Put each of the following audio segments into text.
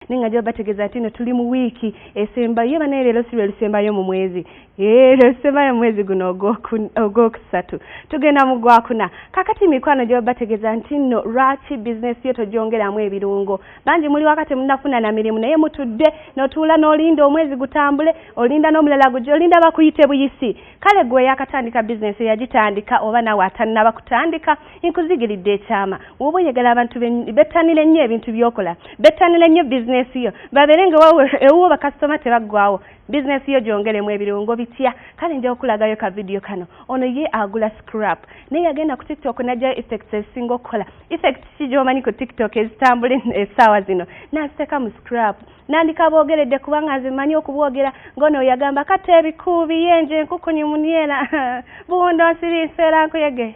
naye nga nja bategeeza nti no tuli mu wiiki esembayo ye banaye leero si lwe lusembayo mu mwezi ee lwe lusembayo mu mwezi guno ogwokusatu tugenda mu gwakuna kakati mikwano gye babategeeza nti nno lwaki bizinesi yo togyongeramu ebirungo bangi muli wakati munafuna na mirimu naye mutudde notuula n'olinda omwezi gutambule olinda n'omulala gujja olinda bakuyite buyisi kale gwe yakatandika bizinesi yagitandika oba nawe atannaba kutandika Nkuzigiridde ekyama woba oyagala abantu bettanire nnyo ebintu byokola bettanire nnyo bizinesi yo babeere nga wawe ewuwo bakasitoma tebaggwawo bizinesi yo gyongeremu ebirungo bitya kale nja kukulagayo ka vidiyo kano ono ye agula scrap naye yagenda ku tiktok najjayo effects ezisinga okukola effects ki gyomanyi ku tiktok ezitambula essaawa zino naziteeka mu scrap nandika boogeredde kubanga nze mmanyi okubwogera ng'ono yagamba kata ebikuubi yenje enkukunyi muniera buwundo nsiri nseera nkuyege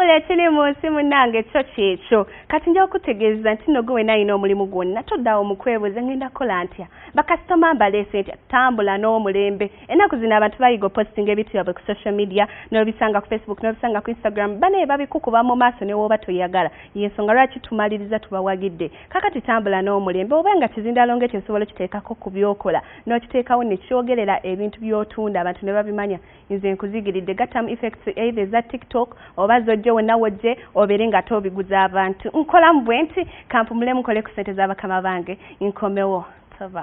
Ola ekiri mu nsi munnange kyo kyekyo kati nja okutegeeza nti nno gwe wena alina omulimu gwonna toddawo mu kwebuuza ngenda kukola ntya bakasitoma mbaleese ntya tambula n'omulembe ennaku zino abantu bayiga opositinga ebintu byabwe ku social media n'obisanga ku facebook n'obisanga ku instagram banaye babikukuba mu maaso ne wooba toyagala y'ensonga lwaki tumaliriza tubawagidde kakati tambula n'omulembe oba nga kizindalongo ekyo osobola okiteekako ku byokola n'okiteekawo ne kyogerera ebintu by'otunda abantu ne babimanya nze nkuzigiridde gattamu effects either eza tiktok oba zojje wonna wojje obeere nga ate obiguza abantu nkolamu bwe nti kampumule mukole ku sente z'abakama bange nkomewo tova